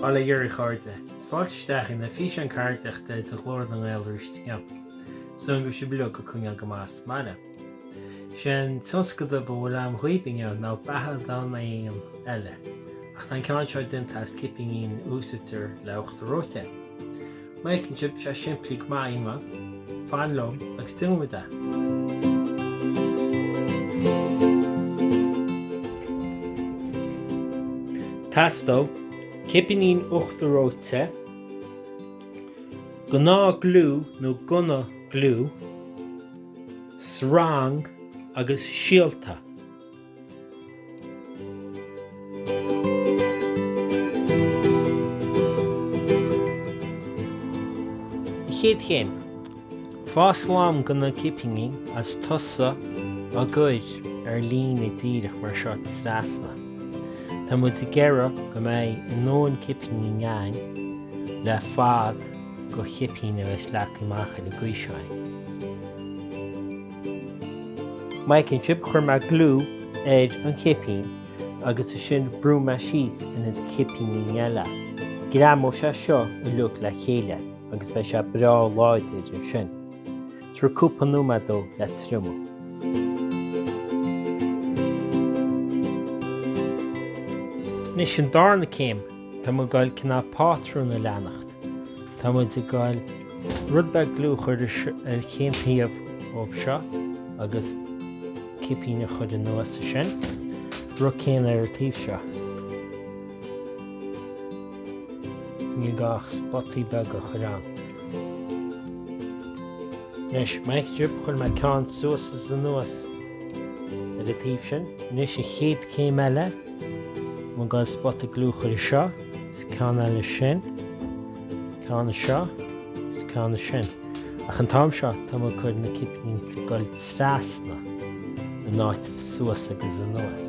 Ba le Gerry Chairde. Fáilte isteach in oifig an Chairdeachta de Ghlór na nGael arís inniu. Súnn go sibh leo go coinneáil go maith sa mbaile. Sé an tionscadal a mholaim dhaoib inniu ná beathadán éan eile, ach tá an ceann seo déanta as cipíní a úsáidtear le uachtar reoite. Mar a fheiceann sibh tá sé simplí go maith ionghlan, fan liom agus déanfaimid é! Teastóidh cipíní uachtar reoite, gnáth gliú nó gunna gliú. Sreang agus Síolta. Chéad Chéim, faigh slám de na cipíní agus tosaigh á gcur ar líne díreach mar seo trasna. Tá muid ag iarraidh go mbeidh ár ndóthain cipíní againn le fad. de chipín agus leag amach ar an gcaoi seo iad. Mar a fheiceann sibh chuir mé gliú ar an gcipín agus ansin bhrúigh mé síos ar na cipíní eile. Greamóidh sé seo uilig le chéile agus beidh sé breá láidir ansin. Tabhair cúpla nóiméad dó le triomú. Anois an darna céim. Tá muid ag goil cineál pátrún a leanacht. Tá muid ag goil rud beag gliú a chuir ar chaon taobh dhó seo agus cipín a chuir anuas air sin, rud céanna ar an taobh seo. Níl gá ach spotaí beaga a chuir ann. Anois, mar a fheiceann sibh, chuir mé ceann suas is anuas ar an taobh sin. Anois an chéad chéim eile, tá mé ag goil spota gliú a chuir anseo, is ceann eile ansin, ceann anseo, is ceann ansin. Ach an t-am seo, tá mé ag cur na cipíní ag goil trasna, in áit suas agus anuas.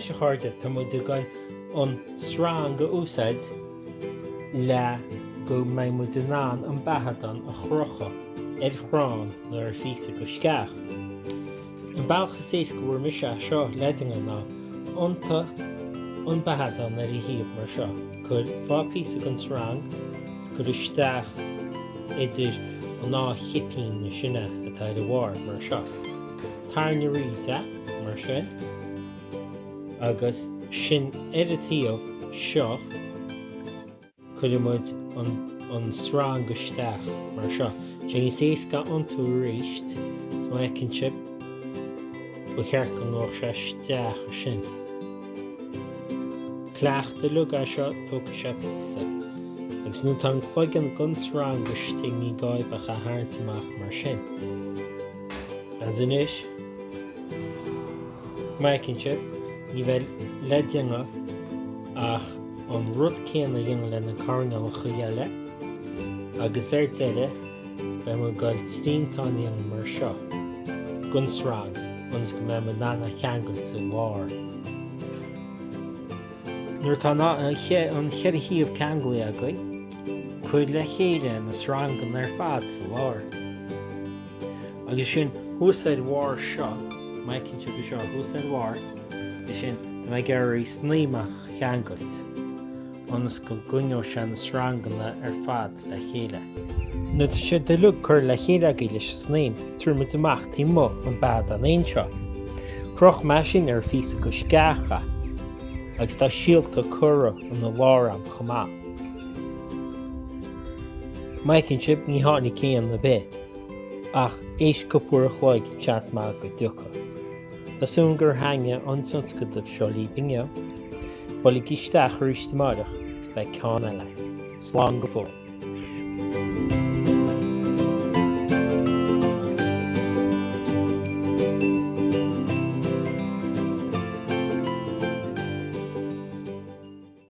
Anois a chairde, tá muid ag dul an sreang a úsáid le go mbeidh muid in ann an beathadán a chrochadh ar chrann nó ar phíosa de sceach. An bealach is éasca a bhfuair mise é seo le déanamh ná iontú an beathadán ar a thaobh mar seo, cuir dhá phíosa den srang 's cuir isteach idir an dá chipín na sine atá ar a bharr mar seo. Tarraing thríd é, mar sin, agus ansin ar an taobh seo. Cuireann muid an srang isteach mar seo. Tá sé níos éasca iontú aríst, 's má fheiceann sibh, ba cheart go ngabhadh sé isteach ansin. Cleachtadh uilig é seo, tógfaidh sé píosa. Agus nuair atá an cloigeann den srang istigh ní gá dhaoibh ach é a tharraingt amach mar sin. Agus anois, má fheiceann sibh, ní bheidh le déanamh ach. an rud céanna a dhéanamh le na coirnéalacha eile, agus ar deireadh, beidh muid ag dul triantán a dhéanamh mar seo, den sreang, ionas go mbeidh mé in ann é a cheangailt sa lár. Nuair atá an cheithre thaobh ceanglaithe agaibh, cuir le chéile na sreanganna ar fad sa lár. Agus ansin thuas ar bharr seo, má fheiceann sibh é seo thuas ar bharr, ansin, tá mé ag iarraidh snaidhm a cheangailt ionas go gcoinneoidh sé na sreanganna ar fad le chéile. Nuair atá siad uilig curtha le chéile agaibh leis an snaidhm, tabharfaidh muid amach taobh amuigh an beathadán éin seo. Chroch mé sin ar phíosa de sceach agus tá síolta curtha ina lár ann chomh maith. Má fheiceann sibh, ní tháinig éan ar bith. Ach th'éis cúpla uair an chloig tá seans maith go dtiocfaidh. Tá súil agam gur thaitin an tionscadal seo libh inniu. Buailigí isteach arís amáireach agus beidh ceann eile. Slán go fóill.